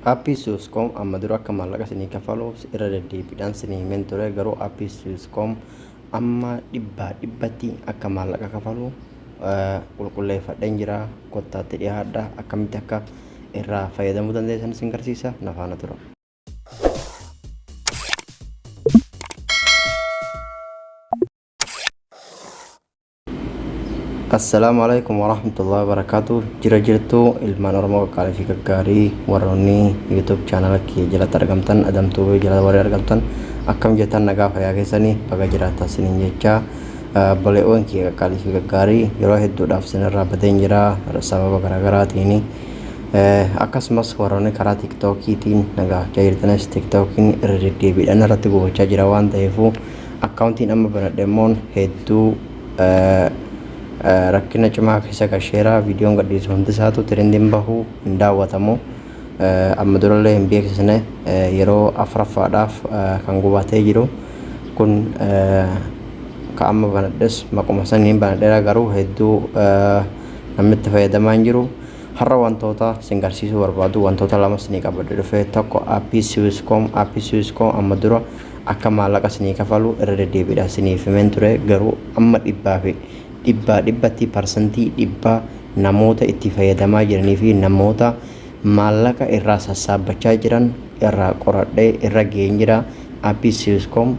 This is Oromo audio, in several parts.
Appii Swisscom amma dura akka maallaqa isinii kafaluuf irra deddeebiidhaan isinii himeen ture garuu appii Swisscom amma dhibbaa dhibbatti akka maallaqa kafalu qulqulleeffadheen jira kottaatti dhiyaadha akkamitti akka irraa fayyadamuu dandeessan isin garsiisa nafaana tura. Assalaamu alaikum warahmatullahi wabarakatuh jira jirtu ilmaan oromoo qaqqaalii fi gaggaarii warroonni youtube chaanala kiyya jalatti argamtan adamtuu fi jala warri argamtan akkam jettan nagaa fayyaa keessanii baga jiraattan siniin jecha baleewwan kiyya qaqqaalii fi gaggaarii yeroo hedduudhaaf sinirraa badeen jira sababa garaagaraatiin Akkasumas warroonni karaa tiktookiitiin na gaafachaa jirtanis tiktookiin irra deddeebiidhaan irratti gubachaa jira waan ta'eefuu akkaawuntiin amma banadhe immoon hedduu rakkina cimaa keessa gasheera viidiyoon gadhiisu hundi isaatu tirendiin bahu hin daawwatamu amma durallee hin beeksisne yeroo afraffaadhaaf kan gubatee jiru kun ka amma banadhes maquma saniin banadheera garuu hedduu namni itti fayyadamaa hin jiru. Har'a wantoota isin garsiisuu barbaadu wantoota lama isinii qabadhe dhufe tokko appii siwiscom appii siwiscom amma dura akka maallaqa isinii kafalu irra deddeebiidhaan isiniif himeen ture garuu amma dhibbaa fi dhibbaa dhibbatti parsantii dhibbaa namoota itti fayyadamaa jiranii fi namoota maallaqa irraa sassaabbachaa jiran irraa qoradhee irra ga'een jira appii siwiscom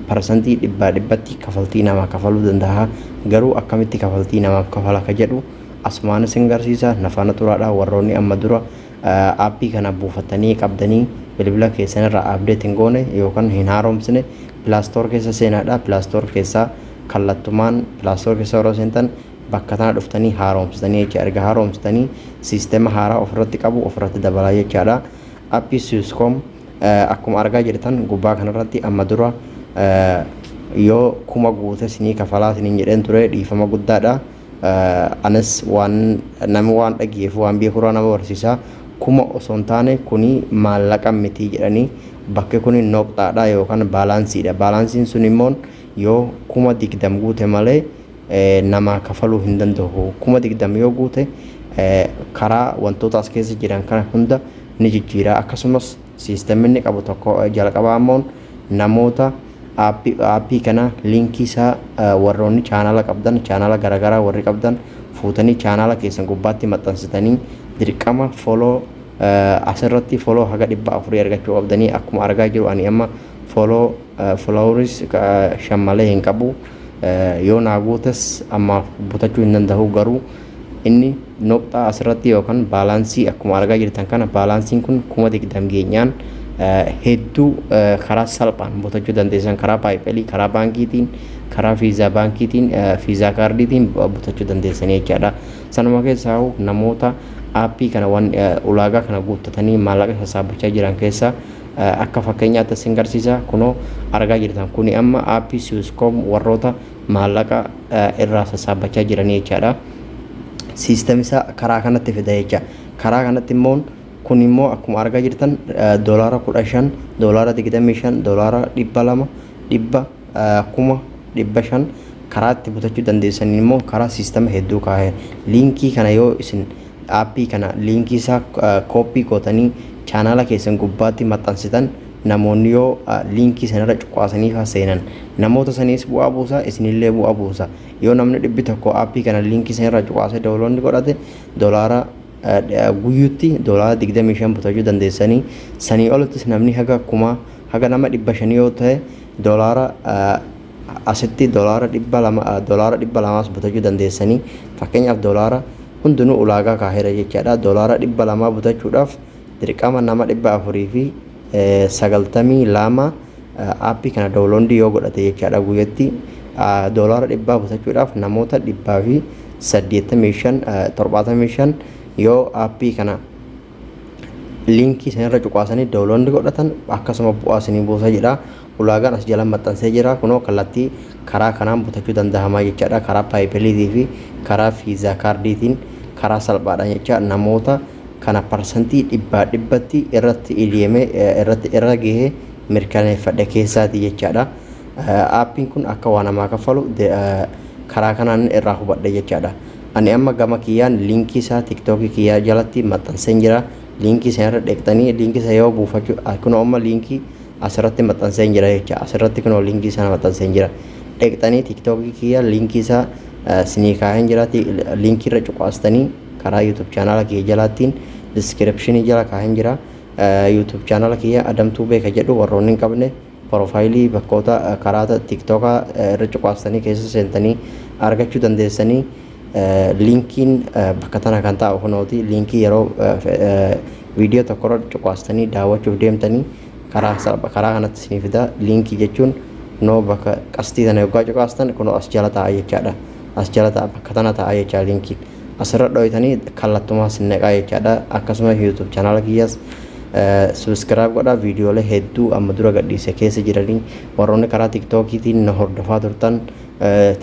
parsantii dhibbaa dhibbatti kafaltii namaa kafaluu danda'a garuu akkamitti kafaltii namaaf kafala ka jedhu Asumaan isin garsiisa na faana turaadha warroonni amma dura aappii kana buufattanii qabdanii bilbila keessan irraa update hin goone yookaan hin haaromsine pilaastoor keessa seenaadha pilaastoor keessaa kallattumaan pilaastoor keessa yeroo seentan bakka tana dhuftanii haaromsitanii jecha erga haaromsitanii siistema haaraa ofirratti qabu ofirratti dabalaa jechaadha aappii siiskom akkuma argaa jirtan gubbaa kanarratti amma dura yoo kuma guute sinii kafalaa siniin jedheen ture dhiifama guddaadha. Anis waan nama waan dhageef waan beekuraa nama barsiisa kuma osoo hin taane kuni maallaqa miti jedhani bakki kuni noqxaadha yookaan baalaansiidha baalaansiin sun immoo yoo kuma digdam guute malee namaa kafaluu hin danda'u kuma digdam yoo guute karaa wantoota as keessa jiran kana hunda ni jijjiira akkasumas siistemni inni qabu tokko jalqabaa immoo namoota app app kana link isaa warroonni chaanala qabdan chaanala garagaraa warri qabdan fuutanii chaanala keessan gubbaatti maxxansitanii dirqama follow asirratti follow haga dhibba afurii argachuu qabdanii akkuma argaa jiru ani amma follow followers shan malee hin qabu yoo naa guutes ammaaf butachuu hin danda'u garuu Inni noqxaa asirratti yookan baalaansii akkuma argaa jirtan kana baalaansiin kun kuma digdam geenyaan hedduu karaa salphaan butachuu dandeessan karaa paayipelii karaa baankiitiin karaa fiizaa baankiitiin fiizaa kaardiitiin butachuu dandeessan jechaadha. Sanuma keessaa namoota aappii kana waan ulaagaa kana guuttatanii maallaqa sassaabachaa jiran keessaa akka fakkeenyaatti isin garsiisa kunoo argaa jirtan kuni amma aappii siwiskoom warroota maallaqa irraa sassaabbachaa jiranii jechaadha. System isaa karaa kanatti fida jecha. Karaa kanatti immoo kun immoo akkuma argaa jirtan doolaara kudha shan, doolaara digdamii shan, doolaara dhibba lama, dhibba kuma dhibba shan karaa itti butachuu dandeessaniin immoo karaa system hedduu kaa'e. Liinkii kana yoo isin aappii kana liinkii isaa kooppii gootanii chaanaala keessan gubbaatti maxxansitan Namoonni yoo liinkii sanarra cuqaasanii faa seenan namoota saniis bu'aa buusa isinillee bu'aa buusa. Yoo namni dhibbi tokko aappii kana liinkii sanirraa cuqaasee download godhate dolaara guyyutti dolaara 25 butachuu dandeessanii sanii olittis namni haga kumaa haga nama dhibba shanii yoo ta'e dolaara asitti dolaara dhibba lama dolaara dhibba lamaas butachuu dandeessanii fakkeenyaaf dolaara hundinuu ulaagaa kaahera jechaadha dolaara dhibba lamaa butachuudhaaf Dirqama nama 492 app kana download yoo godhate jechaadha guyyatti doolaara 100 busachuudhaaf namoota 185 75 yoo app kana linkii isinirra cuqaasanii download godhatan akkasuma bu'aa isinii buusa jedha. Ulaagaan as jala maxxansee jira kunoo kallattii karaa kanaan butachuu danda'amaa jechaadha karaa paayipeliitii fi karaa fiizaa kaardiitiin karaa salphaadhaan jecha namoota kana parsantii dhibbaa dhibbatti irratti idieme irratti irra gahee mirkaneeffadhe keessaati jechaadha aappiin kun akka waa namaa kaffalu karaa kanaan irraa hubadhe jechaadha ani amma gama kiyyaan liinkii isaa tiktookii kiyyaa jalatti maxxanseen jira liinkii sana irra dheeqxanii liinkii sana yoo buufachuu kunoo amma liinkii asirratti maxxanseen jira jecha asirratti kunoo linkii sana maxxanseen jira dheqxanii tiiktookii kiyya linkii isaa sinii kaa'een jira linkii irra cuqaastanii karaa yuutuub chaanaala kiyya jalaattiin diskiripshinii jala kaa'een jira yuutuub chaanaala kiyya adamtuu beeka jedhu warroonni hin qabne porofaayilii bakkoota karaa tiiktookaa irra cuqaastanii keessa seentanii argachuu dandeessanii Linkiin bakka tana kan taa'u kunooti. Linkii yeroo viidiyoo tokkorra cuqaastanii daawwachuuf deemtanii karaa salpha karaa kanatti isinii fida. Linkii jechuun kunoo bakka qastii tana yoggaa cuqaastan kunoo as jala taa'a jechaadha. As jala taa'a bakka tana taa'a jechaa linkiin. Asirra dhooytanii kallattumaa sin naqaa jechaadha. Akkasumas YouTube chanaala kiyyaas subscribe godhaa viidiyoolee hedduu amma dura gadhiise keessa jiranii warroonni karaa tiktookiitiin na hordofaa turtan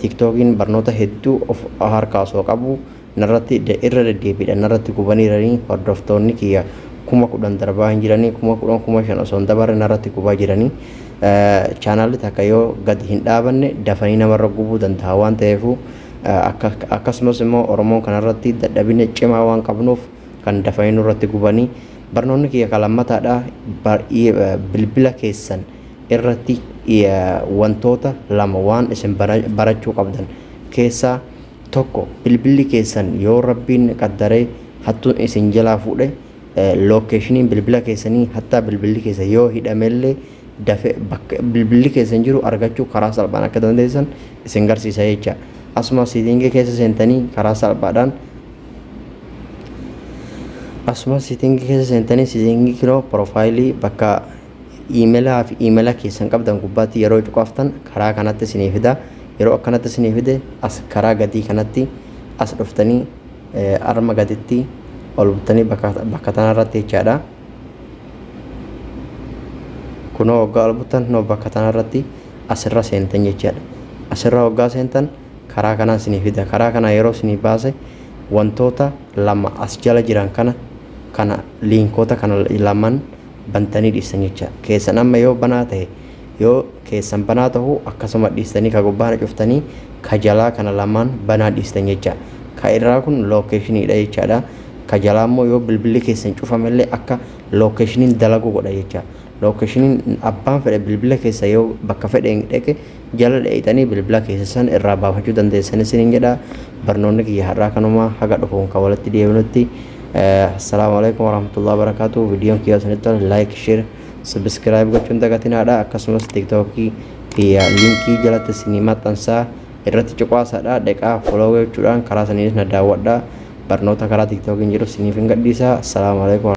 Tiktookiin barnoota hedduu of harkaa osoo qabuu narratti irra deddeebiidhaan narratti gubaniiranii hordoftoonni kiyya kuma kudhan darbaa hin jiranii kuma kudhan kuma shan osoo hin dabarre narratti gubaa jiranii chaanaalli takka yoo gadi hin dhaabanne dafanii namarra gubuu danda'a waan ta'eefuu akkasumas immoo Oromoon kanarratti dadhabina cimaa waan qabnuuf kan dafanii nurratti gubanii barnoonni kiyya kan lammataadha bilbila keessan irratti wantoota lama waan isin barachuu qabdan keessaa tokko bilbilli keessan yoo rabbiin qaddaree hattuun isin jalaa fuudhe lookeeshiniin bilbila keessanii hattaa bilbilli keessan yoo hidhamellee dafe bakka bilbilli keessan jiru argachuu karaa salphaan akka dandeessan isin garsiisa jecha asuma siitingii keessa seentanii karaa salphaadhaan asuma siitingii keessa seentanii siitingii kiloo piroofaayilii bakka Iimelaa fi iimela keessan qabdan gubbaatti yeroo cuqaaftan karaa kanatti isinii fida. Yeroo akkanatti isinii fide as karaa gadii kanatti as dhuftanii arma gaditti ol buttanii bakka bakka tanarratti jechaadha. Kunoo waggaa ol buttan kunoo bakka tanarratti asirra seentan jechaadha. Asirra waggaa seentan karaa kanaa isinii fida. Karaa kanaa yeroo isinii baase wantoota lama as jala jiran kana kana liinkoota kana laman bantanii dhiistan jecha keessan amma yoo banaa tahe yoo keessan banaa tahu akkasuma dhiistanii ka gubbaa kana cuftanii ka jalaa kana lamaan banaa dhiistan jecha ka irraa kun location dha jechaadha ka jalaa immoo yoo bilbilli keessan cufame illee akka location dalagu godha jecha location abbaan fedhe bilbila keessa yoo bakka fedhe dhaqe jala dheeyxanii bilbila keeysa san irraa baafachuu dandeeysan isiniin jedha barnoonni kiyya har'aa kanuma haga dhufuun kan walitti deebinutti assalaamu alaikum warahmatullahi wabarakaatu viidiyoon kiyya isinitti tole laayik sheer sabiskiraayib gochuun dagatinaadha akkasumas tiiktookii kiyya liinkii jalatti isinii maxxansaa irratti cuqaasaadha dheqaa folowee jechuudhaan karaa saniinis na daawwadha barnoota karaa tiiktookiin jiru isiniif hin gadhiisa assalaamu alaikum